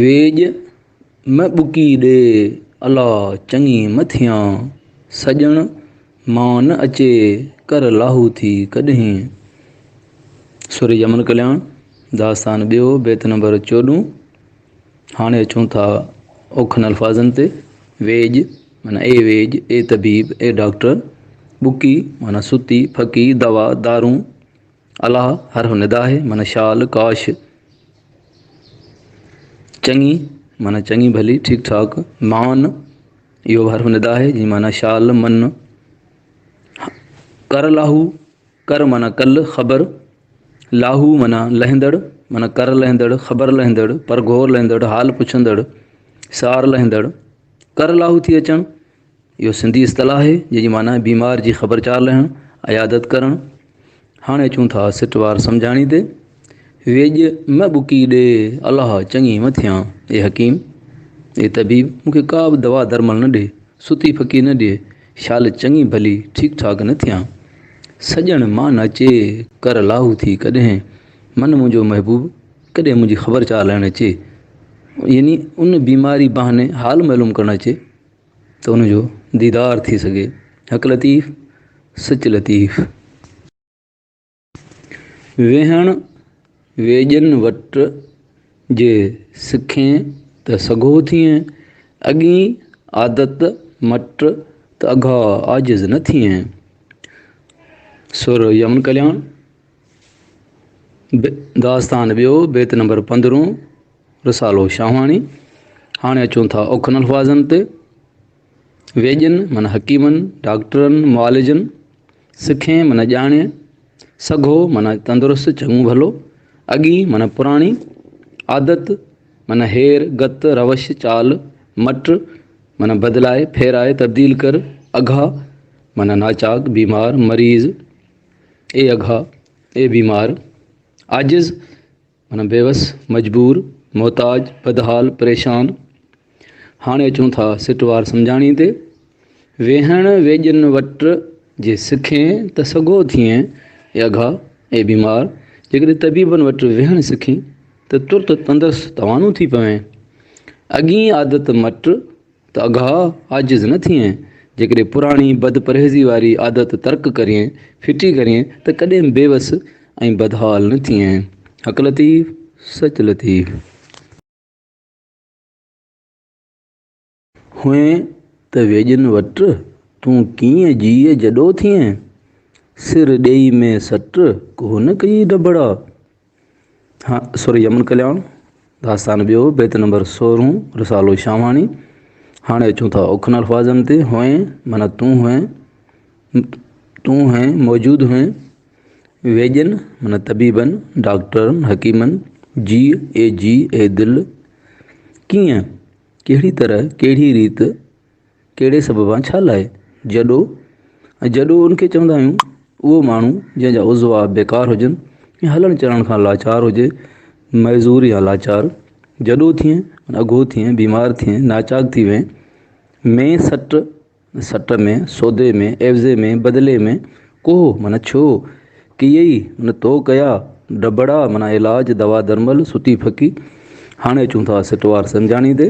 ويڄ مه ٻڪي ڏي الا چڱي مه ٿيان، سڄڻ مان نه اچي ڪر لاهوٿي ڪڏهين. سوري جمن ڪلياڻ، داستان ٻيو، بيت نمبر چوڏهون، هاڻي اچون ٿا اوکن الفاظن تي، ويڄ، معنيٰ اي ويڄ، اي طبيب، اي ڊاڪٽر، ٻڪي، معنيٰ ستي، ڦڪي، دوا، دارون، الله هر هو ندا آهي معنيٰ شال، ڪاش، چڱي معنيٰ چڱي ڀلي، ٺيڪ ٺاڪ، مان، اهو به هر هو ندا آهي جي معنيٰ شال، من، ڪر لاهو، ڪر معنيٰ ڪل، خبر، لاهو معنيٰ لهندڙ، معنيٰ ڪر لهندڙ، خبر لهندڙ، پرگهور لهندڙ، حال پڇندڙ، سار لهندڙ، ڪر لاهو ٿي اچڻ. اهو سنڌي اصطلاح آهي، جنهن جي معنيٰ بيمار جي خبر چار لهڻ، عيادت ڪرڻ. هاڻي اچون ٿا سٽ وار سمجهاڻي تي. ويڄ م ٻڪي ڏي، الله چڱي م ٿيان. اي حڪيم! اي طبيب! مون کي ڪا به دوا درمل نه ڏي، ستي ڦڪي نه ڏي، شال چڱي ڀلي، ٺيڪ ٺاڪ نه ٿيان. سڄڻ مان نه اچي، ڪر لاهو ٿي ڪڏهن، من منهنجو محبوب ڪڏهن منهنجي خبر چار لهڻ اچي. يعني ان بيماري بهاني حال معلوم ڪرڻ اچي. ته ان جو ديدار ٿي سگهي. حق لطيف سچ لطيف. ويهڻ ويڄن وٽ جي سکين ته سگهو ٿئين. اڳين عادت مٽ ته اگها عاجز نه ٿئين. سر يمن ڪلياڻ. داستان ٻيو، بيت نمبر پندرهون. رسالو شاهواڻي، هاڻي اچون ٿا اوکن الفاظن تي. ويڄن معنيٰ حڪيمن، ڊاڪٽرن، معالجن، سکين معنيٰ ڄاڻي، سگهو معنيٰ تندرست، چڱو ڀلو، اڳي معنيٰ پراڻي، عادت معنيٰ هير، گت، روش، چال، مٽ معنيٰ بدلائي، ڦيرائي، تبديل ڪر، اگها معنيٰ ناچاڪ، بيمار، مريض، اي اگها، اي بيمار، عاجز، معنيٰ بيوس، مجبور، محتاج، بدحال، پريشان. هاڻي اچون ٿا سٽ وار سمجهاڻي تي. ويهڻ ويڄن وٽ جي سکين ته سگهو ٿئين اي اگها، اي بيمار، جيڪڏهن طبيبن وٽ ويهڻ سکين ته ترت تندرست توانو ٿي پوين. اڳين عادت مٽ. ته اگهاء عاجز نه ٿئين، جيڪڏهن پراڻي بد پرهيزي واري عادت ترڪ ڪرين، ڦٽي ڪرين، ته ڪڏهن به بيوس ۽ بدحال نه ٿئين. حق لطيف، سچ لطيف. هئين ته ويڄن وٽ، تون ڪيئن جيء جڏو ٿئين. سر ڏيئي ۾ سٽ، ڪو نه ڪيئي ڊڀڙا. سر يمن ڪلياڻ، داستان ٻيو، بيت نمبر سورهون، رسالو شاهواڻي. هاڻي اچون ٿا اوکن الفاظن تي، هئين معنيٰ تون هئين، تون هئين موجود هئين، ويڄن معنيٰ طبيبن، ڊاڪٽرن، حڪيمن، جيء اي جيء اي دل، ڪيئن، ڪهڙي طرح، ڪهڙي ريت، ڪهڙي سببان ڇا لاء جڏو ۽ جڏو ان کي چوندا آهيون اهو ماڻهو جنهن جا عضوا بيڪار هجن يا هلڻ چلڻ کان لاچار هجي معذور يا لاچار جڏو ٿئين اگهو ٿئين بيمار ٿئين ناچاڪ ٿي وئين ۾ سٽ سٽ ۾ سودي ۾ عيوضي ۾ بدلي ۾ ڪوهو معنيٰ ڇو ڪيئي معنيٰ تو ڪيا ڊڀڙا معنيٰ علاج دوا درمل ستي ڦڪي هاڻي اچون ٿا سٽوار سمجهاڻي تي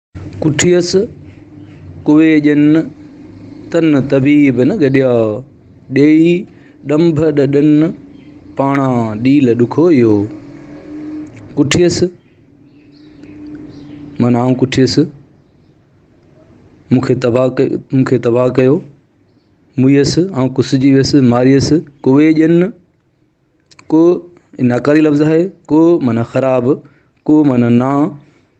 ڪٺيس ڪوي ڄن تن طبيب نه گڏيا، ڏيئي ڏنڀ ڏڏن پاڻا ڏيل ڏکويو. ڪٺيس، معنيٰ آئون ڪٺيس، مون کي تباهه ڪيو. مئيس، آئون ڪسجي ويس، ماريس. ڪوي ڄن، ڪو ناڪاري لفظ آهي، ڪو معنيٰ خراب، ڪو معنيٰ نا.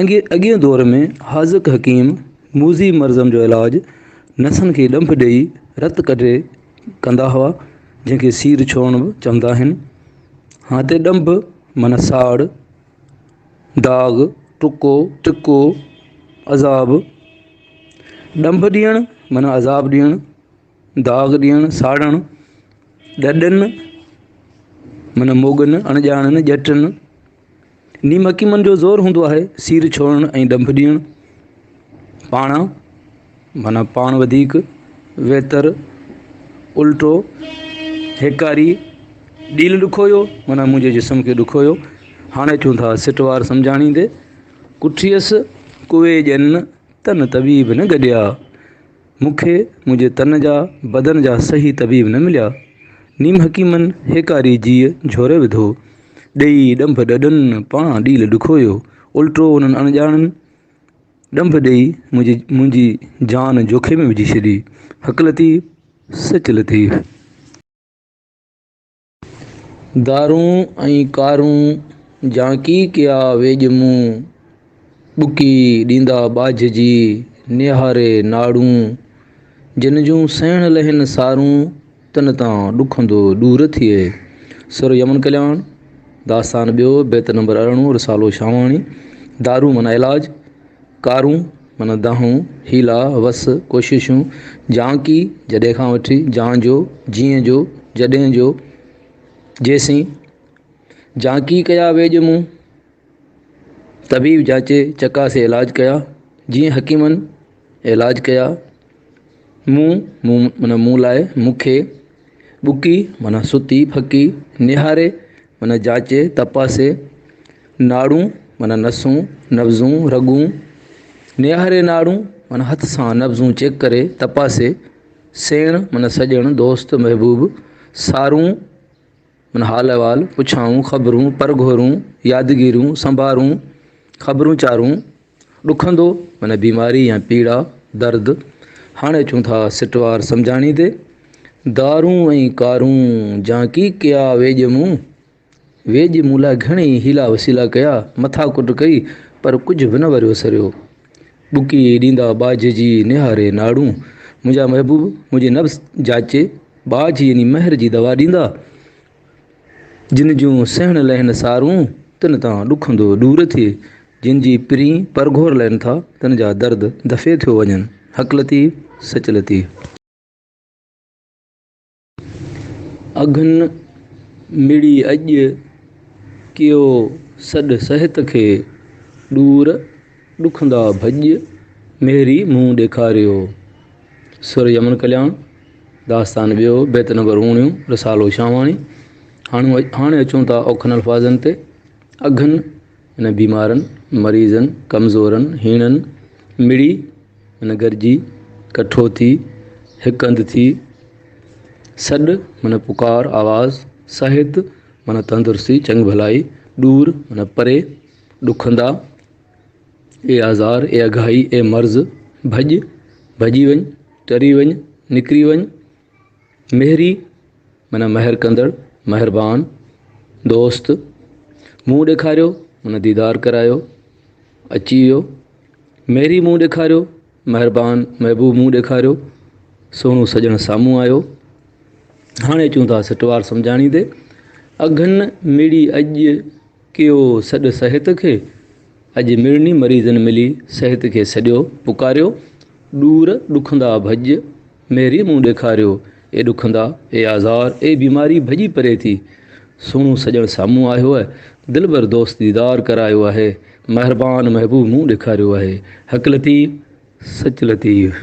اڳئين دور ۾ حاذق حڪيم موذي مرضن جو علاج نسن کي ڏنڀ ڏيئي رت ڪڍي ڪندا هئا جنهن کي سير ڇوڙڻ به چوندا آهن. هتي ڏنڀ معنيٰ ساڙ، داغ، ٽڪو، ٽڪو، عذاب. ڏنڀ ڏيڻ معنيٰ عذاب ڏيڻ، داغ ڏيڻ، ساڙڻ. ڏڏن معنيٰ موڳن، اڻڄاڻن، ڄٽن. نيم حڪيمن جو زور هوندو آهي سير ڇوڙڻ ۽ ڏنڀ ڏيڻ. پاڻا معنيٰ پاڻ وڌيڪ، ويتر، الٽو، هيڪاري، ڏيل ڏکويو معنيٰ منهنجي جسم کي ڏکويو، هاڻ اچون ٿا سٽوار سمجهاڻي تي، ڪٺيس ڪوئي ڄن تن طبيب نه گڏيا. مون کي منهنجي تن جا بدن جا صحيح طبيب نه مليا. نيم حڪيمن هيڪاري جيء جهوري وڌو. ڏيئي ڏنڀ ڏڏن پاڻان ڏيل ڏکويو. الٽو انهن اڻڄاڻن ڏنڀ ڏيئي منهنجي منهنجي جان جوکي ۾ وجهي ڇڏي. حق لطيف سچ لطيف. گارون ۽ ڪارون جانڪي ڪيا ويڄ مون، ٻڪي ڏيندا ٻاجهه جي نهاري ناڙون. جن جون سهڻ لهين سارون، تن تان ڏکندو ڏور ٿئي. سر يمن ڪلياڻ، داستان ٻيو، بيت نمبر ارڙهون، رسالو شاهواڻي، دارو معنيٰ علاج، ڪارون، معنيٰ دانهون، حيلا، وس، ڪوششون، جانڪي، جڏهن کان وٺي، جان جو، جيئن جو، جڏهن جو، جيسين، جانڪي ڪيا ويڄ مون، طبيب جانچي چڪاسي علاج ڪيا، جيئن حڪيمن علاج ڪيا. مون، مون معنيٰ مون لاء، مون کي، ٻڪي معنيٰ ستي، ڦڪي، نهاري معنيٰ جاچي، تپاسي، ناڙون معنيٰ نسون، نبضون، رڳون، نهاري ناڙون معنيٰ هٿ سان نبضون چيڪ ڪري، تپاسي، سيڻ معنيٰ سڄڻ، دوست، محبوب، سارون، من حال احوال پڇائون، خبرون پر گهورون، يادگيرون سنڀارون، خبرون چارون، ڏکندو من بيماري يا پيڙا، درد، هاڻي اچون ٿا سٽوار سمجهاڻي تي، دارون ۽ ڪارون جانڪي ڪيا ويڄ مون، ويڄ مون لاء گهڻي ئي حيلا وسيلا ڪيا، مٿا ڪٽ ڪئي پر ڪجهه به نه وريو سريو. ٻڪي ڏيندا ٻاجهه جي نهاري ناڙون. منهنجا محبوب منهنجي نبض جاچي ٻاجهه يعني مهر جي دوا ڏيندا. جن جون سهڻ لهن سارون تن تان ڏکندو ڏور ٿئي. جن جي پرين پرگهور لهن ٿا تن جا درد دفعي ٿيو وڃن. حق لطيف سچ لطيف. اگهن مڙي اڄ، ڪيو سڏ صحت کي، ڏور ڏکندا ڀڄ، ميري منهن ڏيکاريو. سر يمن ڪلياڻ، داستان ٻيو، بيت نمبر اوڻيهون، رسالو شاهواڻي. هاڻي اچون ٿا اوکن الفاظن تي، اگهن. هن بيمارن، مريضن، ڪمزورن، هيڻن مڙئي معنيٰ گڏجي، ڪٺو ٿي، هڪ هنڌ ٿي، سڏ معنيٰ پڪار، آواز، صحت معنيٰ تندرستي، چڱ ڀلائي، ڏور معنيٰ پري، ڏکندا، اي آزار، اي اگهائي، اي مرض، ڀڄ، ڀڄي وڃ، ٽري وڃ، نڪري وڃ، مهري، معنيٰ مهر ڪندڙ، مهربان، دوست، منهن ڏيکاريو، معنيٰ ديدار ڪرايو، اچي ويو، مهري منهن ڏيکاريو، مهربان، محبوب منهن ڏيکاريو، سهڻو سڄڻ سامهون آيو. هاڻي اچون ٿا سٽوار سمجهاڻي تي. اگهن مڙي اڄ. ڪيو سڏ صحت کي، اڄ مڙني مريضن ملي صحت کي سڏيو پڪاريو، ڏور ڏکندا ڀڄ ميري مون ڏيکاريو، اي ڏکندا اي آزار اي بيماري ڀڄي پري ٿي، سهڻو سڄڻ سامهون آيو آهي، دلبر دوست ديدار ڪرايو آهي، مهربان محبوب مون ڏيکاريو آهي، حق لطيف سچ لطيف.